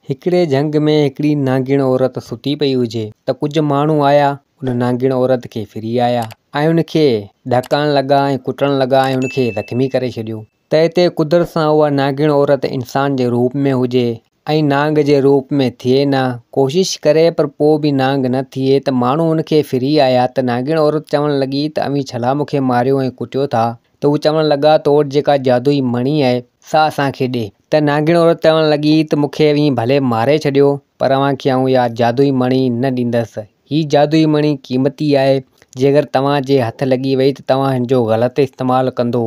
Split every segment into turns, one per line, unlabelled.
هڪڙي جهنگ ۾ هڪڙي نانگڻ عورت ستي پئي هجي ته ڪجهه ماڻهو آيا ان نانگڻ عورت کي ڦري آيا ۽ ان کي ڏهڪائڻ لڳا ۽ ڪٽڻ لڳا ۽ ان کي زخمي ڪري ڇڏيو تنهن تي قدرت سان اها نانگڻ عورت انسان جي روپ ۾ هجي ۽ نانگ جي روپ ۾ ٿئي نه ڪوشش ڪري پر پوء به نانگ نه ٿئي ته ماڻهو ان کي ڦري آيا ته نانگڻ عورت چوڻ لڳي ته اوهين ڇلا مون کي ماريو ۽ ڪٽيو ٿا ته هو چوڻ لڳا ته تو وٽ جيڪا جادوئي مڻي آهي، سا اسان کي ڏي. ته نانگڻ عورت چوڻ لڳي ته مون کي اوهين ڀلي ماري ڇڏيو، پر اوهان کي آئون اها جادوئي مڻي نه ڏيندس. هي جادوئي مڻي قيمتي آهي، جيڪر توهان جي هٿ لڳي وئي ته توهان هن جو غلط استعمال ڪندو،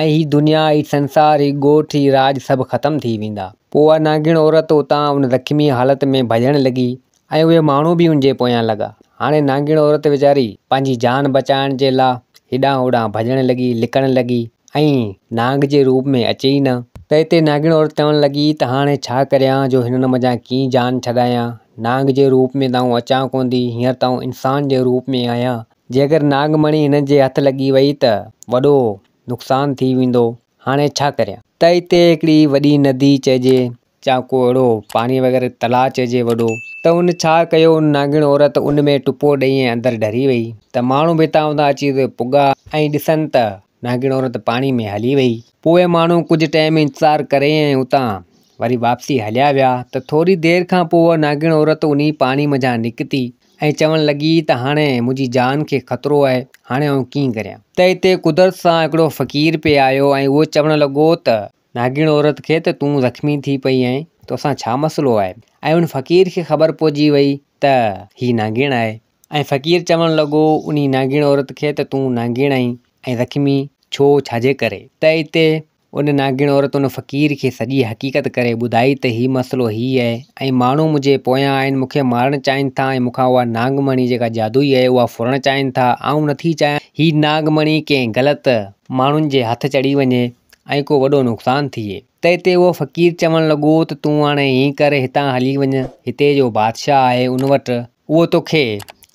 ۽ هي دنيا، هي سنسار، هي ڳوٺ، هي راڄ سڀ ختم ٿي ويندا. پوء اها نانگڻ عورت اتان ان زخمي حالت ۾ ڀڄڻ لڳي، ۽ اهي ماڻهو به ان جي پويان لڳا. هاڻي نانگيڻ عورت ويچاري پنهنجي جان بچائڻ جي لا هيڏانهن هوڏانهن ڀڄڻ لڳي، لڪڻ لڳي ۽ نانگ جي روپ ۾ اچي ئي نه. تنهن تي نانگيڻ عورت چوڻ لڳي ته هاڻي ڇا ڪريان جو هنن منجهان ڪيئن جان ڇڏايان. نانگ جي روپ ۾ ته آئون اچان ڪونه ٿي، هينئر ته آئون انسان جي روپ ۾ آهيان. جيڪر نانگ مڻي هنن جي هٿ لڳي وئي ته وڏو نقصان ٿي ويندو. هاڻي ڇا ڪريان. تنهن تي هڪڙي وڏي ندي چئجي جا ڪو اهڙو پاڻي وغيره تلاء چئجي وڏو. ته ان ڇا ڪيو ان نانگڻ عورت ان ۾ ٽپو ڏئي ۽ اندر ڍري وئي ته ماڻهو به اتان اتان اچي اتي پڳا ۽ ڏسن ته نانگڻ عورت پاڻي ۾ هلي وئي. پوء ماڻهو ڪجهه ٽيم انتظار ڪري ۽ اتان وري واپسي هليا ويا ته ٿوري دير کان پوء اها نانگڻ عورت انهي پاڻي منجهان نڪتي ۽ چوڻ لڳي ته هاڻي منهنجي جان کي خطرو آهي هاڻي آئون ڪيئن ڪريان ته اتي قدرت سان هڪڙو فقير پئي آيو ۽ اهو چوڻ لڳو ته ناڳڻ عورت کي ته تون زخمي ٿي پئي آهين، توسان ڇا مسئلو آهي؟ ۽ ان فقير کي خبر پئجي وئي ته هي ناڳڻ آهي ۽ فقير چوڻ لڳو انهي ناڳڻ عورت کي ته تون ناڳڻ آهين ۽ زخمي ڇو ڇا جي ڪري؟ ته اتي ان ناڳڻ عورت ان فقير کي سڄي حقيقت ڪري ٻڌائي ته هي مسئلو هي آهي ۽ ماڻهو منهنجي پويان آهن مون کي مارڻ چاهين ٿا ۽ مون کان اها ناڳ مڻي جيڪا جادوئي آهي اها ڦرڻ چاهين ٿا آئون نٿي چاهيان هي ناڳ مڻي ڪنهن غلط ماڻهن جي هٿ چڙهي وڃي ۽ ڪو وڏو نقصان ٿئي. تنهن تي اهو فقير چوڻ لڳو ته تون هاڻي ائين ڪر هتان هلي وڃ، هتي جو بادشاهه آهي ان وٽ، اهو توکي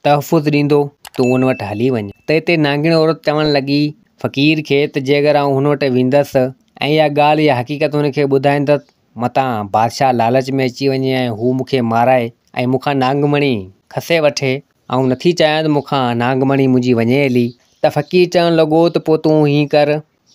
تحفظ ڏيندو، تون ان وٽ هلي وڃ. تنهن تي نانگڻي عورت چوڻ لڳي فقير کي ته جيڪر آئون هن وٽ ويندس ۽ اها ڳالهه يا حقيقت هن کي ٻڌائيندس، متان بادشاهه لالچ ۾ اچي وڃي ۽ هو مون کي مارائي ۽ مون کان نانگ مڻي کسي وٺي، آئون نٿي چاهيان ته مون کان نانگ مڻي منهنجي وڃي هلي. ته فقير چوڻ لڳو ته پوء تون ائين ڪر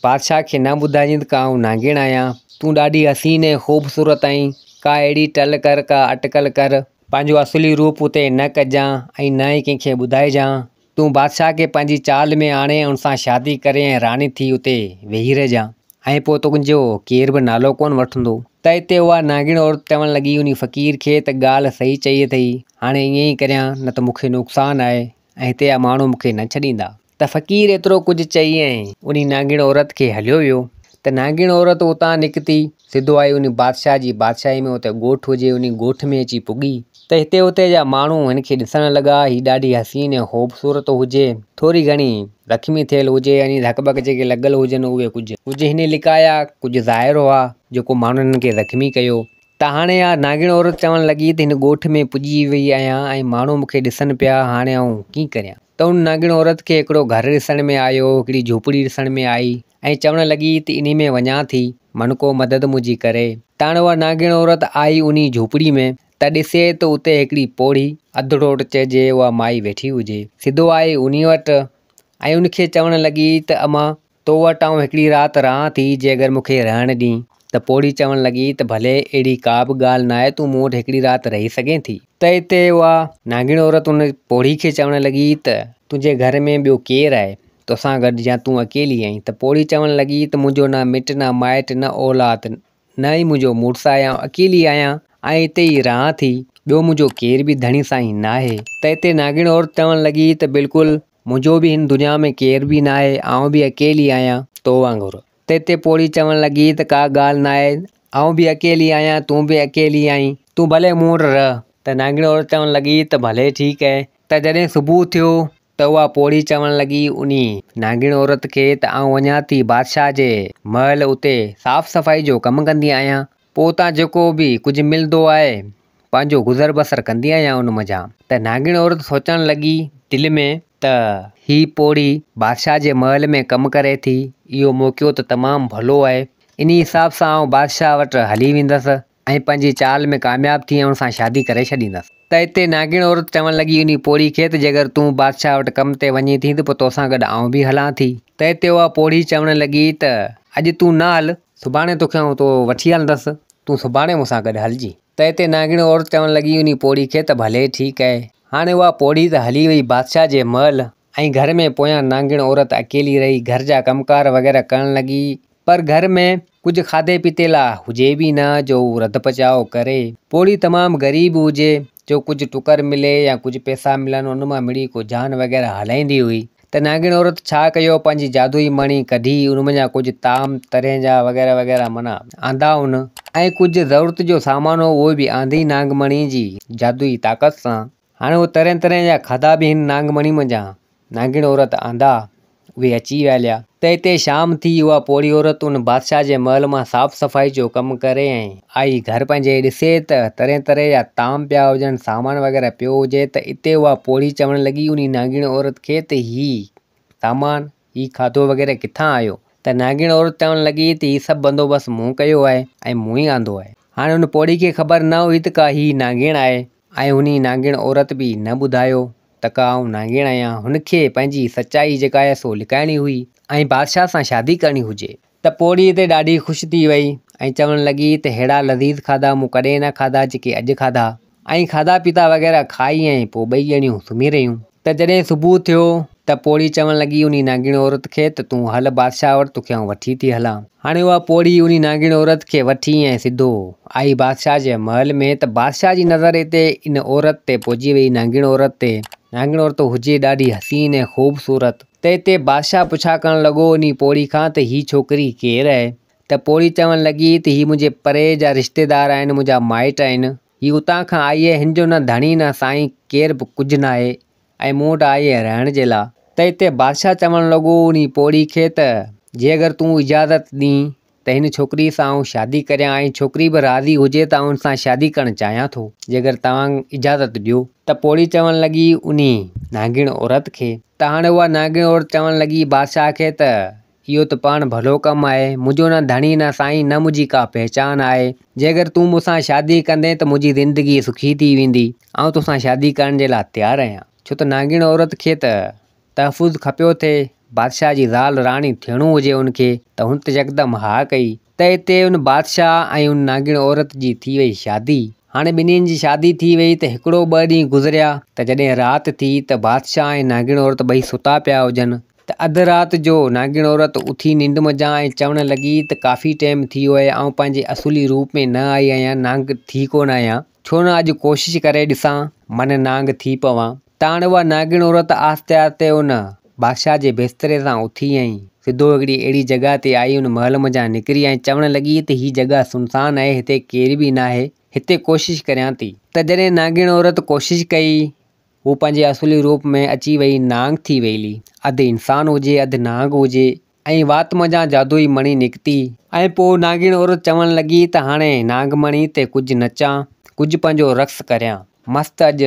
بادشاهه کي نه ٻڌائجين ته ڪا آئون نانگيڙ آهيان. تون ڏاڍي حسين ۽ خوبصورت آهين. ڪا اهڙي ٽل ڪر، ڪا اٽڪل ڪر. پنهنجو اصلي روپ اتي نه ڪجان ۽ نه ئي ڪنهن کي ٻڌائجان. تون بادشاهه کي پنهنجي چال ۾ آڻي ۽ ان سان شادي ڪري ۽ راڻي ٿي اتي ويهي رهجان. ۽ پوء تنهنجو ڪير به نالو ڪونه وٺندو. تنهن تي اها نانگيڙ عورت چوڻ لڳي انهي فقير کي ته ڳالهه صحيح چئي اٿئي. هاڻي ائين ئي ڪريان نه ته مون کي نقصان آهي ۽ هتي جا ماڻهو مون کي نه ڇڏيندا. ته فقير ايترو ڪجهه چئي ۽ انهي نانگيڻ عورت کي هليو ويو ته نانگيڻ عورت اتان نڪتي سڌو آئي انهي بادشاهه جي بادشاهي ۾ اتي ڳوٺ هجي انهي ڳوٺ ۾ اچي پڳي ته هتي اتي جا ماڻهو هن کي ڏسڻ لڳا هي ڏاڍي حسين ۽ خوبصورت هجي ٿوري گهڻي زخمي ٿيل هجي يعني ڌڪ ٻڪ جيڪي لڳل هجن اهي ڪجهه ڪجهه هنئين لڪايا ڪجهه ظاهر هئا جيڪو ماڻهن هن کي زخمي ڪيو ته هاڻي اها نانگڻ عورت چوڻ لڳي ته هن ڳوٺ ۾ پڄي وئي آهيان ۽ ماڻهو مون کي ڏسن پيا، هاڻي آئون ڪيئن ڪريان؟ ته ان نانگڻ عورت کي هڪڙو گهر ڏسڻ ۾ آيو، هڪڙي جهوپڙي ڏسڻ ۾ آئي ۽ چوڻ لڳي ته انهي ۾ وڃان ٿي، من ڪو مدد منهنجي ڪري. ته هاڻي اها نانگڻ عورت آئي انهي جهوپڙي ۾، ته ڏسي ته اتي هڪڙي پوڙهي، اڌ ڊوٽ چئجي، اها مائي ويٺي هجي. سڌو آئي انهي وٽ ۽ ان کي چوڻ لڳي ته امان! تو وٽ آئون هڪڙي رات رهان ٿي، جي اگر مون کي رهڻ ڏئين. ته پوڙهي چوڻ لڳي ته ڀلي، اهڙي ڪا به ڳالهه ناهي، تون مون وٽ هڪڙي رات رهي سگهين ٿي. ته اتي اها نانگڻ عورت ان پوڙهي کي چوڻ لڳي ته تنهنجي گهر ۾ ٻيو ڪير آهي تو سان گڏ يا تون اڪيلي آهين؟ ته پوڙهي چوڻ لڳي ته منهنجو نه مٽ نه مائٽ نه اولاد نه ئي منهنجو مڙس آهي آئون اڪيلي آهيان ۽ اتي ئي رهان ٿي، ٻيو منهنجو ڪير به ڌڻي سائين ناهي. ته اتي نانگڻ عورت چوڻ لڳي ته بلڪل منهنجو به هن دنيا ۾ ڪير به ناهي، آئون به اڪيلي آهيان، تو وانگر. تيتي پوڙهي چوڻ لڳي ته ڪا ڳالهه ناهي، آئون به اڪيلي آهيان، تون به اڪيلي آهين. تون ڀلي مون وٽ رهه. ته نانگڻي عورت چوڻ لڳي ته ڀلي ٺيڪ اهي. ته جڏهن صبح ٿيو ته اها پوڙهي چوڻ لڳي انهي، نانگڻي عورت، کي ته آئون وڃان ٿي بادشاهه جي محل اتي صاف صفائي جو ڪم ڪندي آهيان. پوء اتان جيڪو به ڪجهه ملندو آهي، پنهنجو گذر بسر ڪندي آهيان ان منجهان. ته ناگڻ عورت سوچڻ لڳي دل ۾. ته هيء پوڙهي بادشاهه جي محل ۾ ڪم ڪري ٿي، اهو موقعو ته تمام ڀلو آهي. انهيء حساب سان آئون بادشاهه وٽ هلي ويندس ۽ پنهنجي چال ۾ ڪامياب ٿي ان سان شادي ڪري ڇڏيندس. ته اتي ناگڻ عورت چوڻ لڳي انهيء پوڙهي کي ته جيڪر تون بادشاهه وٽ ڪم تي وڃين ٿي ته پوء تو سان گڏ آئون به هلان ٿي. ته اتي اها پوڙهي چوڻ لڳي ته اڄ تون نه هل. سڀاڻي توکي آئون اتو وٺي هلندس، تون سڀاڻي مون سان گڏ هلجين. تئي تي نانگڻي عورت چوڻ لڳي انهي پوڙهي کي ته ڀلي ٺيڪ آهي. هاڻي اها پوڙهي ته هلي وئي بادشاهه جي محل ۽ گهر ۾ پويان نانگڻ عورت اڪيلي رهي گهر جا ڪم ڪار وغيره ڪرڻ لڳي پر گهر ۾ ڪجهه کاڌي پيتي لا هجي به نه جو هو رڌ پچاء ڪري. پوڙهي تمام غريب هجي جو ڪجهه ٽڪر ملي يا ڪجهه پيسا ملن ان مان مڙئي ڪو جان وغيره هلائيندي هئي. ته نانگڻ عورت ڇا ڪيو پنهنجي جادوئي مڻي ڪڍي ان منجهان ڪجهه طعام طرح جا وغيره وغيره منا آندا ان ۽ ڪجهه ضرورت جو سامان هو اهي به آندي نانگ مڻي جي جادوئي طاقت سان هاڻي اهي طرح طرح جا کاڌا به هن نانگ مڻي منجهان نانگڻ عورت آندا اهي اچي ويليا ته هتي شام ٿي اها پوڙهي عورت ان بادشاهه جي محل مان صاف صفائي جو ڪم ڪري ۽. آئي گهر پنهنجي ڏسي ته طرح طرح جا طعام پيا هجن، سامان وغيره پيو هجي ته اتي اها پوڙهي چوڻ لڳي انهي نانگيڻ عورت کي ته هي سامان، هي کاڌو وغيره ڪٿان آيو؟ ته نانگيڻ عورت چوڻ لڳي ته هي سڀ بندوبست مون ڪيو آهي ۽ مون ئي آندو آهي. هاڻي هن پوڙهي کي خبر نه هئي ته ڪا هي نانگيڻ آهي ۽ انهي نانگيڻ عورت به نه ٻڌايو ته ڪا آئون نانگيڻ آهيان، هن کي پنهنجي سچائي جيڪا آهي سو لڪائڻي هئي ۽ بادشاهه سان شادي ڪرڻي هجي. ته پوڙهيء تي ڏاڍي خوش ٿي ويئي ۽ چوڻ لڳي ته ههڙا لذيذ کاڌا مون ڪڏهن نه کاڌا جيڪي اڄ کاڌا. ائين کاڌا پيتا وغيره کائي ۽ پوء ٻئي ڄڻيون سمهي رهيون. ته جڏهن صبح ٿيو ته پوڙهي چوڻ لڳي انهي نانگيڻي عورت کي ته تون هل بادشاهه وٽ توکي آئون وٺي ٿي هلان. هاڻي اها پوڙهي انهي نانگيڻي عورت کي وٺي ۽ سڌو آئي بادشاهه جي محل ۾ ته بادشاهه جي نظر اتي ان عورت تي پئجي ويئي نانگيڻ عورت تي نانگيڻ عورت هجي ڏاڍي حسين ۽ خوبصورت. تنهن تي بادشاهه پڇا ڪرڻ لڳو انهي پوڙهي کان ته هي ڇوڪري ڪير اهي؟ ته پوڙهي چوڻ لڳي ته هي منهنجي پري جا رشتيدار آهن، منهنجا مائٽ آهن. هي اتان کان آئي اهي، هن جو نه ڌڻي نه سائين ڪير به ڪجهه ناهي ۽ مون وٽ آئي اهي رهڻ جي لا. تنهن تي بادشاهه چوڻ لڳو انهي پوڙهي کي ته جي اگر تون اجازت ڏين ته هن ڇوڪريء سان آئون شادي ڪريان ۽ ڇوڪري به راضي هجي ته آئون هن سان شادي ڪرڻ چاهيان ٿو، جيڪر توهان اجازت ڏيو. ته پوڙهي چوڻ لڳي انهي نانگڻ عورت کي. ته هاڻي اها نانگڻ عورت چوڻ لڳي بادشاهه کي ته اهو ته پاڻ ڀلو ڪم آهي، منهنجو نه ڌڻي نه سائين نه منهنجي ڪا پهچان آهي، جيڪر تون مون سان شادي ڪندين ته منهنجي زندگي سکي ٿي ويندي، آئون تو سان شادي ڪرڻ جي لاء تيار آهيان. ڇو ته نانگڻ عورت کي ته تحفظ کپيو ٿئي، بادشاهه جي زال راڻي ٿيڻو هجي ان کي، ته هن ته يڪدم ها ڪئي، ته اتي ان بادشاهه ۽ ان نانگڻ عورت جي ٿي وئي شادي. هاڻي ٻنهين جي شادي ٿي وئي ته هڪڙو ٻه ڏينهن گذريا، ته جڏهن رات ٿي ته بادشاهه ۽ نانگڻ عورت ٻئي ستا پيا هجن، ته اڌ رات جو نانگڻ عورت اٿي ننڊ منجهان ۽ چوڻ لڳي ته ڪافي ٽيم ٿي ويو آهي، آئون پنهنجي اصولي روپ ۾ نه آئي آهيان، نانگ ٿي ڪونه آهيان. ڇو نه اڄ ڪوشش ڪري ڏسان، من نانگ ٿي پوان. تاڻ اها نانگڻ عورت آهستي آهستي ان بادشاهه جي بستري سان اٿي ۽ سڌو هڪڙي اهڙي جڳهه تي آئي ان محل منجهان نڪري ۽ چوڻ لڳي ته هي جڳهه سنسان آهي هتي ڪير به ناهي، هتي ڪوشش ڪريان ٿي. ته جڏهن نانگڻ عورت ڪوشش ڪئي، هوء پنهنجي اصلي روپ ۾ اچي ويئي نانگ ٿي ويلي، اڌ انسان هجي اڌ نانگ هجي، ۽ وات منجهان جادوئي مڻي نڪتي. ۽ پوء ناڳڻ عورت چوڻ لڳي ته هاڻي ناگ مڻي تي ڪجهه نچان، ڪجهه پنهنجو رقص ڪريان. مست اڄ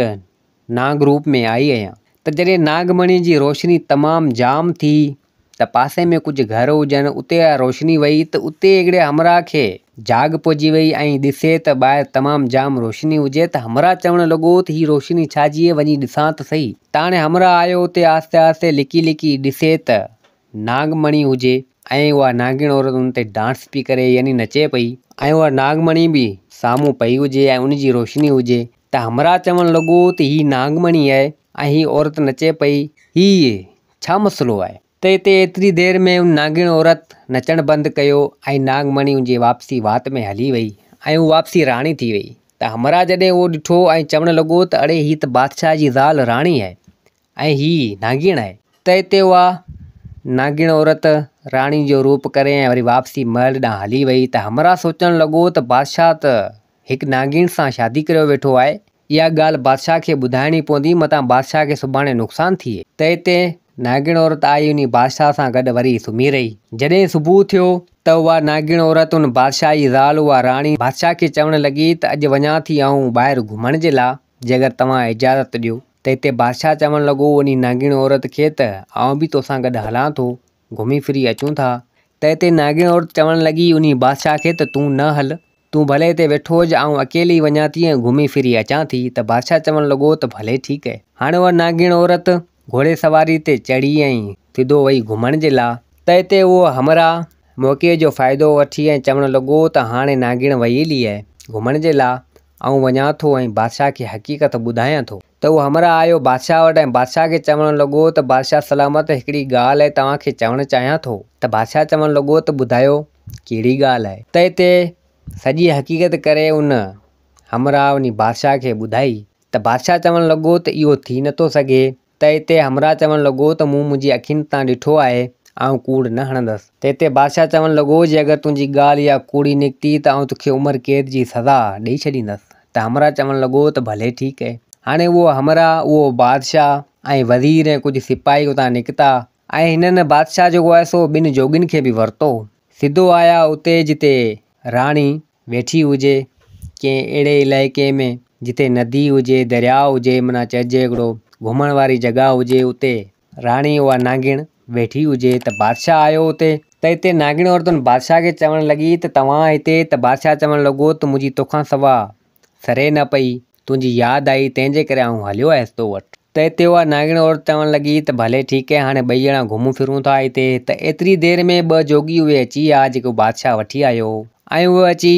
ناگ روپ ۾ آئي آهيان. ته جڏهن ناگ مڻي جي روشني تمام جام ٿي ته پاسي ۾ ڪجهه گهر هجن اتي اها روشني وئي ته اتي هڪڙي همراهه کي جاڳ پئجي وئي ۽ ڏسي ته ٻاهر تمام جام روشني هجي ته همراهه چوڻ لڳو ته هي روشني ڇا جي وڃي ڏسان ته سهي. تاڻي همراهه آيو اتي آهستي آهستي لڪي لڪي ڏسي ته ناگ مڻي هجي ۽ اها ناگڻ عورت ان تي ڊانس پئي ڪري يعني نچي پئي ۽ اها ناگ مڻي به سامهون پئي هجي ۽ ان جي روشني هجي ته همراهه چوڻ لڳو ته هي ناگ مڻي آهي ۽ هي عورت نچي پئي هي ڇا مسئلو آهي ته اتي ايتري دير ۾ ان ناگڻ عورت نچڻ بند ڪيو ۽ ناگ مڻي ان جي واپسي وات ۾ هلي وئي ۽ اها واپسي راڻي ٿي وئي ته همراهه جڏهن اهو ڏٺو ۽ چوڻ لڳو ته اڙي هي ته بادشاهه جي زال راڻي آهي ۽ هيء نانگيڻ آهي. ته اتي اها نانگيڻ عورت راڻي جو روپ ڪري ۽ وري واپسي محل ڏانهن هلي ويئي ته همراهه سوچڻ لڳو ته بادشاهه ته هڪ نانگيڻ سان شادي ڪريو ويٺو آهي، اها ڳالهه بادشاهه کي ٻڌائڻي پوندي متان بادشاهه کي سڀاڻي نقصان ٿئي. ته اتي نانگيڻ عورت آئي انهي بادشاهه سان گڏ وري سمهي رهي. جڏهن صبح ٿيو ته اها نانگيڻ عورت ان بادشاهه جي زال اها راڻي بادشاهه کي چوڻ لڳي ته اڄ وڃان ٿي آئون ٻاهر گهمڻ جي لاء جيڪر توهان اجازت ڏيو. ته هتي بادشاهه چوڻ لڳو انهي ناگيڻ عورت کي ته آئون به توسان گڏ هلان ٿو، گهمي ڦري اچون ٿا. ته هتي ناگيڻ عورت چوڻ لڳي انهي بادشاهه کي ته تون نه هل، تون ڀلي هتي ويٺو هج، آئون اڪيلي ئي وڃان ٿي ۽ گهمي ڦري اچان ٿي. ته بادشاهه چوڻ لڳو ته ڀلي ٺيڪ هي. هاڻي اها ناگيڻ عورت گهوڙي سواري تي چڙهي ۽ سڌو وئي گهمڻ جي لاء. ته هتي اهو همراهه موقعي جو فائدو وٺي ۽ چوڻ لڳو ته هاڻي ناگيڻ وئي هلي هي گهمڻ جي لاء، آئون وڃان ٿو ۽ بادشاهه کي حقيقت ٻڌايان ٿو. ته هو همراهه آيو بادشاهه وٽ ۽ بادشاهه کي چوڻ لڳو ته بادشاهه سلامت هڪڙي ڳالهه توهان کي چوڻ چاهيان ٿو. ته بادشاهه چوڻ لڳو ته ٻڌايو ڪهڙي ڳالهه. ته هتي سڄي حقيقت ڪري ان، همراهه، وڃي بادشاهه کي ٻڌائي. ته بادشاهه چوڻ لڳو ته اهو ٿي نٿو سگهي ته تي همراهه چوڻ لڳو ته مون منهنجي اکين تان ڏٺو آهي، آئون ڪوڙ نه هڻندس. تنهن تي بادشاهه چوڻ لڳو، جي اگر تنهنجي ڳالهه اها ڪوڙي نڪتي ته آئون توکي عمر قيد جي سزا ڏيئي ڇڏيندس. ته همراهه چوڻ لڳو ته ڀلي ٺيڪ اهي. هاڻي اهو همراهه، اهو بادشاهه ۽ وزير ۽ ڪجهه سپاهي اتان نڪتا ۽ هنن بادشاهه جيڪو آهي سو ٻن جوڳين کي به ورتو. سڌو آيا اتي جتي راڻي ويٺي هجي ڪنهن اهڙي علائقي ۾ جتي ندي هجي درياء هجي منا چئجي هڪڙو گهمڻ واري جڳهه هجي اتي راڻي اها نانگڻ ويٺي هجي ته بادشاهه آيو اتي ته اتي نانگڻ عورتن بادشاهه کي چوڻ لڳي ته توهان هتي ته بادشاهه چوڻ لڳو ته منهنجي توکان سوا سري نه پئي تنهنجي ياد آئي، تنهن جي ڪري آئون هليو آيس تو وٽ. ته اتي اها نانگڻي عورت چوڻ لڳي ته ڀلي ٺيڪ هي، هاڻي ٻئي ڄڻا گهمون ڦرون ٿا هتي. ته ايتري دير ۾ ٻه جوڳي اهي اچي ويا، جيڪو بادشاهه وٺي آيو هو. ۽ اهي اچي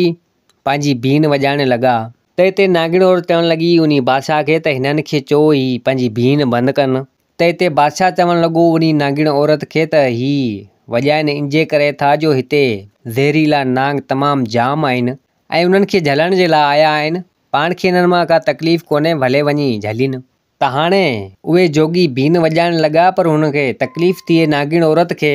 پنهنجي بين وڄائڻ لڳا. ته اتي نانگڻي عورت چوڻ لڳي انهي بادشاهه کي ته هنن کي چئو هي پنهنجي بين بند ڪن. ته اتي بادشاهه چوڻ لڳو انهي نانگڻي عورت کي ته هي وڄائن ان جي ڪري ٿا جو هتي زهريلا نانگ تمام جام آهن، ۽ انهن کي جهلڻ جي لاء آيا آهن. پاڻ کي انهن مان ڪا تڪليف ڪونهي ڀلي وڃي جهلين. ته هاڻي اهي جوڳي بين وڄائڻ لڳا پر هن کي تڪليف ٿئي ناگڻ عورت کي.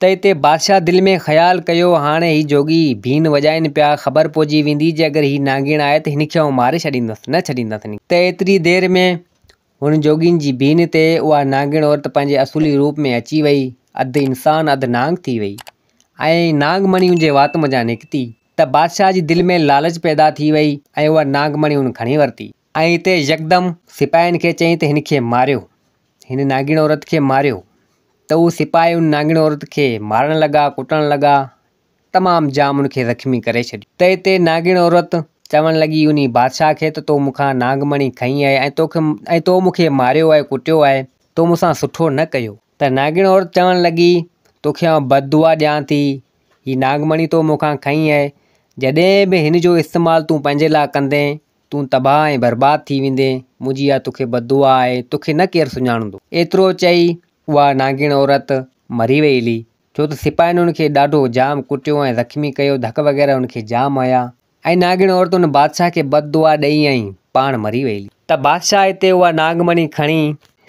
ته اتي بادشاهه دل ۾ خيال ڪيو هاڻي هي جوڳي بين وڄائين پيا خبر پئجي ويندي جي اگر هي ناگڻ آئي ته هن کي آئون ماري ڇڏيندس نه ڇڏيندس هن کي. ته ايتري دير ۾ هن جوڳين جي بين تي اها ناگڻ عورت پنهنجي اصولي روپ ۾ اچي وئي اڌ انسان اڌ نانگ ٿي وئي ۽ نانگ مڻيون جي وات منجهان نڪتي ته بادشاهه جي دل ۾ لالچ پيدا ٿي وئي ۽ اها نانگ مڻي هن کڻي ورتي. ۽ اتي يڪدم سپاهين کي چيائين ته هن کي ماريو، هن نانگيڻ عورت کي ماريو. ته اهي سپاهي ان نانگيڻ عورت کي مارڻ لڳا، ڪٽڻ لڳا، تمام جام ان کي زخمي ڪري ڇڏيو. ته اتي نانگيڻ عورت چوڻ لڳي انهي بادشاهه کي ته تو مون کان نانگ مڻي کنئي آهي ۽ تو مون کي ماريو آهي، ڪٽيو آهي، تو مون سان سٺو نه ڪيو. ته ناڳڻ عورت چوڻ لڳي، توکي آئون بددعا ڏيان ٿي. هي ناگمڻي تو مون کان کنئي آهي. جڏهن به هن جو استعمال تون پنهنجي لاء ڪندين، تون تباهه ۽ برباد ٿي ويندين. منهنجي اها توکي بددعا آهي. توکي نه ڪير سڃاڻندو. ايترو چئي اها ناڳڻ عورت مري وئي هلي. ڇو ته سپاهين هن کي ڏاڍو جام ڪٽيو ۽ زخمي ڪيو، ڌڪ وغيره هن کي جام هنيا. ۽ ناڳڻ عورت ان بادشاهه کي بد دعا ڏئي ۽ پاڻ مري وئي. ته بادشاهه اتي اها ناڳ مڻي کڻي.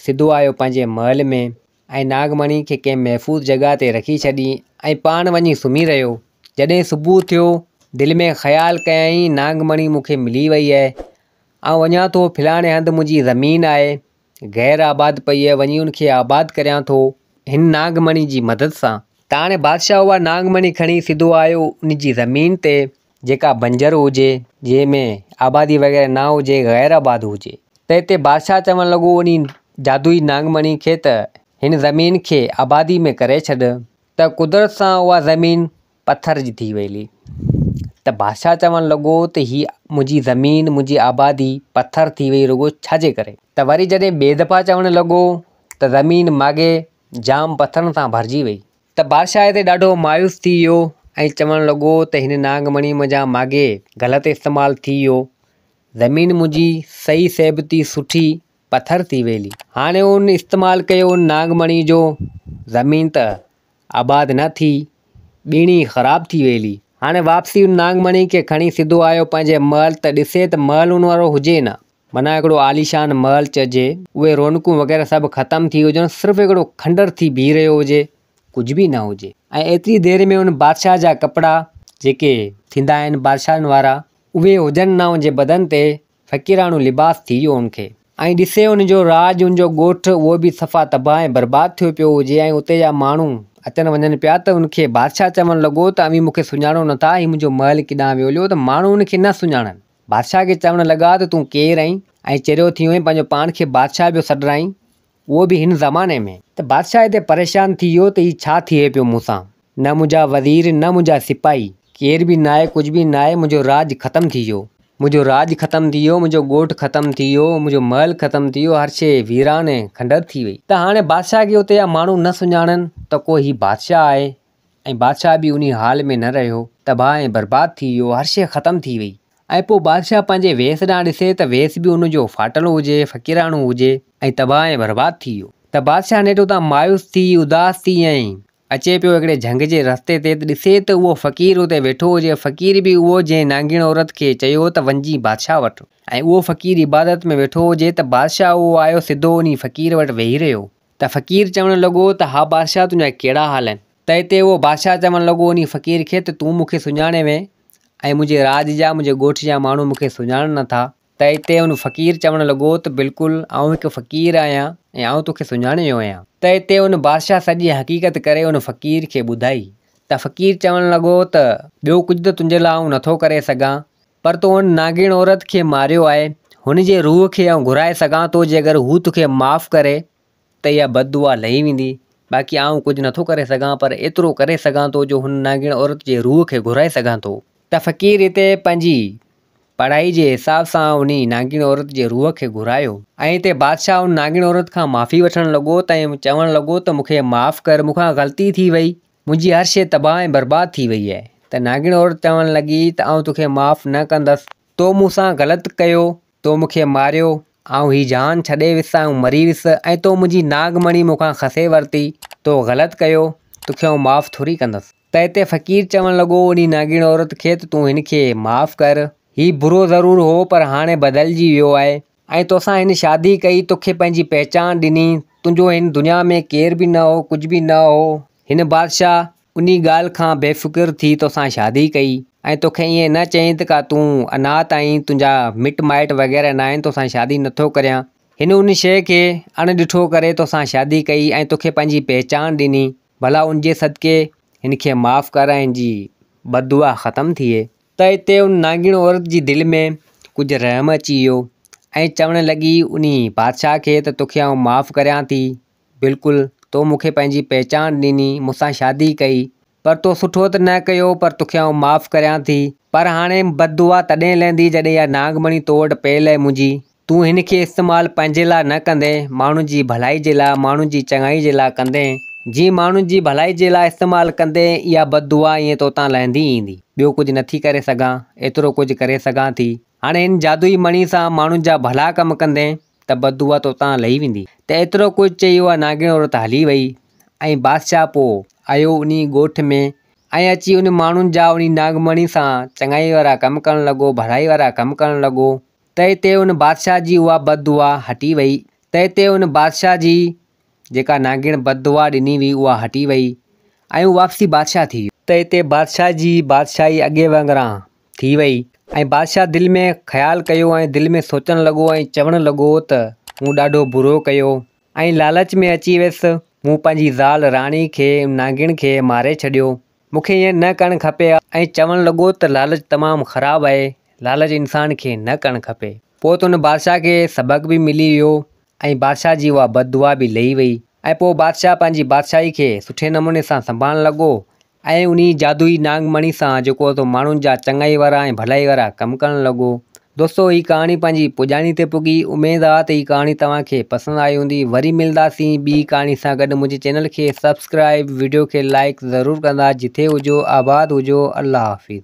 سڌو آيو پنهنجي محل ۾، ۽ ناڳ مڻي کي ڪنهن محفوظ جڳهه تي رکي ڇڏي، ۽ پاڻ وڃي سمهي رهيو. جڏهن صبح ٿيو، دل ۾ خيال ڪيائين، ناڳ مڻي مون کي ملي وئي اهي. آئون وڃان ٿو، ڦلاڻي هنڌ منهنجي زمين آهي. غير آباد پئي هيء، وڃي ان کي آباد ڪريان ٿو، هن ناگ مڻي جي مدد سان. تاڻي بادشاهه اها ناگ مڻي کڻي سڌو آيو ان جي زمين تي، جيڪا بنجر هجي، جنهن ۾ آبادي وغيره نه هجي، غير آباد هجي، ته اتي بادشاهه چوڻ لڳو انهي جادوئي ناگ مڻي کي ته هن زمين کي آبادي ۾ ڪري ڇڏ، ته قدرت سان اها زمين پٿر جي ٿي ويلي ته بادشاهه چوڻ لڳو ته هي منهنجي زمين منهنجي آبادي پٿر ٿي وئي رڳو ڇا جي ڪري؟ ته وري جڏهن ٻي دفعا چوڻ لڳو ته زمين ماڳهين جام پٿرن سان ڀرجي وئي. ته بادشاهه هتي ڏاڍو مايوس ٿي ويو ۽ چوڻ لڳو ته هن ناگ مڻي منهنجا ماڳهين غلط استعمال ٿي ويو زمين منهنجي صحيح صحبتي سٺي پٿر ٿي ويلي هاڻي ان استعمال ڪيو ان ناگ مڻي جو زمين ته آباد نه ٿي، ٻيڻي خراب ٿي ويلي. هاڻي واپسي ان نانگمڻي کي کڻي سڌو آيو پنهنجي محل ته ڏسي ته محل ان وارو هجي نه. منان هڪڙو عاليشان محل چئجي، اهي رونقون وغيره سڀ ختم ٿي هجن، صرف هڪڙو کنڊر ٿي بيهي رهيو هجي، ڪجهه به نه هجي. ۽ ايتري دير ۾ ان بادشاهه جا ڪپڙا، جيڪي. ٿيندا آهن بادشاهن وارا، اهي هجن نه ان جي بدن تي، فقيراڻو لباس ٿي ويو ان کي. ۽ ڏسي ان جو راڄ ان جو ڳوٺ اهو به صفا تباهه ۽ برباد ٿيو پيو هجي ۽ اتي جا ماڻهو اچن وڃن پيا ته ان کي بادشاهه چوڻ لڳو ته اوهين مون کي سڃاڻو نه ٿا هي منهنجو محل ڪيڏانهن ويوليو ته ماڻهو ان کي نه سڃاڻن بادشاهه کي چوڻ لڳا ته تون ڪير اهين ۽ چريو ٿيو اهين پنهنجو پاڻ کي بادشاهه پيو سڏرائين اهو به هن زماني ۾. ته بادشاهه هتي پريشان ٿي ويو ته هي ڇا ٿئي پيو مون سان، نه منهنجا وزير، نه منهنجا سپاهي، ڪير به ناهي، ڪجهه به ناهي، منهنجو راڄ ختم ٿي ويو، منهنجو راڄ ختم ٿي ويو، منهنجو ڳوٺ ختم ٿي ويو، منهنجو محل ختم ٿي ويو، هر شيء ويران ۽ کنڊر ٿي وئي. ته هاڻي بادشاهه کي اتي جا ماڻهو نه سڃاڻن ته ڪو هي بادشاهه آهي ۽ بادشاهه به انهيء حال ۾ نه رهيو، تباهه ۽ برباد ٿي ويو، هر شيء ختم ٿي وئي. ۽ پوء بادشاهه پنهنجي ويس ڏانهن ڏسي ته ويس به ان جو ڦاٽل هجي، فقيراڻو هجي، ۽ تباهه ۽ برباد ٿي ويو. ته بادشاهه نيٺ اتان مايوس ٿي، اداس ٿي، ۽ اچي پيو هڪڙي جهنگ جي رستي تي ته ڏسي ته اهو فقير اتي ويٺو هجي، فقير به اهو جنهن نانگيڻ عورت کي چيو ته وڃجي بادشاهه وٽ، ۽ اهو فقير عبادت ۾ ويٺو هجي ته بادشاهه اهو آيو سڌو انهي فقير وٽ ويهي رهيو، ته فقير چوڻ لڳو ته ها بادشاهه تنهنجا ڪهڙا حال آهن؟ ته اتي اهو بادشاهه چوڻ لڳو انهي فقير کي ته تون مون کي سڃاڻين وئين ۽ منهنجي راڄ جا، منهنجي ڳوٺ جا ماڻهو مون کي سڃاڻن نه ٿا. ته اتي ان فقير چوڻ لڳو ته بلڪل آئون هڪ فقير آهيان ۽ آئون توکي سڃاڻي ويو آهيان. ته اتي ان بادشاهه سڄي حقيقت ڪري ان فقير کي ٻڌائي. ته فقير چوڻ لڳو ته ٻيو ڪجهه ته تنهنجي لاء آئون نه ٿو ڪري سگهان پر تو ان نانگين عورت کي ماريو آهي، هن جي روح کي آئون گهرائي سگهان ٿو، جي اگر هو توکي معاف ڪري ته اها بد دعا لهي ويندي، باقي آئون ڪجهه نٿو ڪري سگهان، پر ايترو ڪري سگهان ٿو جو هن نانگين عورت جي روح کي گهرائي سگهان ٿو. ته فقير هتي پنهنجي پڙهائي جي حساب سان انهي نانگين عورت جي روح کي گهرايو. ۽ هتي بادشاهه ان نانگين عورت کان معافي وٺڻ لڳو ته ۽ چوڻ لڳو ته مون کي معاف ڪر، مون کان غلطي ٿي وئي، منهنجي هر شيء تباهه ۽ برباد ٿي وئي آهي. ته ناگڻ عورت چوڻ لڳي ته آئون توکي معاف نه ڪندس. تو مون سان غلط ڪيو، تو مون کي ماريو، آئون هي جهان ڇڏي ويس، آئون مري ويس ۽ تو منهنجي ناگ مڻي مون کان کسي ورتي، تو غلط ڪيو، توکي آئون معاف ٿوري ڪندس. ته هتي فقير چوڻ لڳو انهي ناگڻ عورت کي ته تون هن کي معاف ڪر، هي برو ضرور هو پر هاڻي بدلجي ويو آهي، آئين توسان هن شادي ڪئي، توکي پنهنجي پهچان ڏني، تنهنجو هن دنيا ۾ ڪير به نه هو، ڪجهه به نه هو، هن بادشاهه انهي ڳالهه کان بي فڪر ٿي توسان شادي ڪئي، ۽ توکي ائين نه چئين ته ڪا تون اناٿ آهين، تنهنجا مٽ مائٽ وغيره ناهن، توسان شادي نٿو ڪريان، هن ان شيء کي اڻ ڏٺو ڪري توسان شادي ڪئي ۽ توکي پنهنجي پهچان ڏني، ڀلا ان جي صدقي هن کي معاف ڪر ۽ هن جي بددعا ختم ٿئي. ته اتي ان نانگيڻ عورت جي دل ۾ ڪجهه رحم اچي ويو ۽ چوڻ لڳي انهي بادشاهه کي ته توکي آئون معاف ڪريان ٿي بلڪل تو مون کي پنهنجي پهچان ڏني مون سان شادي ڪئي پر تو سٺو ته نه ڪيو پر توکي آئون معاف ڪريان ٿي پر هاڻي بددعا تڏهن لهندي جڏهن اها نانگ مڻي تو وٽ پيل ۽ منهنجي تون هن کي استعمال پنهنجي لاء نه ڪندين، ماڻهن جي ڀلائي جي لاء، ماڻهن جي چڱائي جي لاء ڪندين. جيئن ماڻهن جي ڀلائي جي لاء استعمال ڪندين، اها بد دعا ائين توتان لهندي ئي ايندي. ٻيو ڪجهه نه ٿي ڪري سگهان، ايترو ڪجهه ڪري سگهان ٿي. هاڻي هن جادوئي مڻي سان ماڻهن جا ڀلا ڪم ڪندين ته بد دعا توتان لهي ويندي. ته ايترو ڪجهه چئي اها نانگڻ عورت هلي وئي ۽ بادشاهه پوء آيو انهيء ڳوٺ ۾ ۽ اچي انهن ماڻهن جا انهيء نانگ مڻي سان چڱائي وارا ڪم ڪرڻ لڳو، ڀلائي وارا ڪم ڪرڻ لڳو. تنهن تي ان بادشاهه جي اها بد دعا هٽي ويئي. تنهن تي ان بادشاهه جي جيڪا نانگڻ بد دعا ڏني هئي اها هٽي ويئي ۽ هو واپسي بادشاهه ٿي ويو. تنهن تي بادشاهه جي بادشاهي اڳي وانگران ٿي ويئي ۽ بادشاهه دل ۾ خيال ڪيو ۽ دل ۾ سوچڻ لڳو ۽ چوڻ لڳو ته مون ڏاڍو برو ڪيو ۽ لالچ ۾ اچي ويس مون پنهنجي زال راڻي کي نانگڻ کي ماري ڇڏيو. مون کي ائين نه ڪرڻ کپي ها ۽ چوڻ لڳو ته لالچ تمام خراب آهي، لالچ انسان کي نه ڪرڻ کپي. پوء ته ان بادشاهه کي سبق به ملي ويو ۽ بادشاهه جي اها بد دعا به لهي وئي ۽ پوء بادشاهه پنهنجي بادشاهي کي سٺي نموني سان سنڀالڻ لڳو ۽ انهي جادوئي ناگ مڻي سان جيڪو ته ماڻهن جا چڱائي وارا ۽ ڀلائي وارا ڪم ڪرڻ لڳو دوستو هي ڪهاڻي پنهنجي پڄاڻي تي پڳي اميد آ ته هي ڪهاڻي توهان کي پسند آئي هوندي وري ملنداسين ٻي ڪهاڻي سان گڏ منهنجي چينل کي سبسڪرائيب وڊيو کي لائڪ ضرور ڪندا جٿي هجو آباد هجو الله حافظ.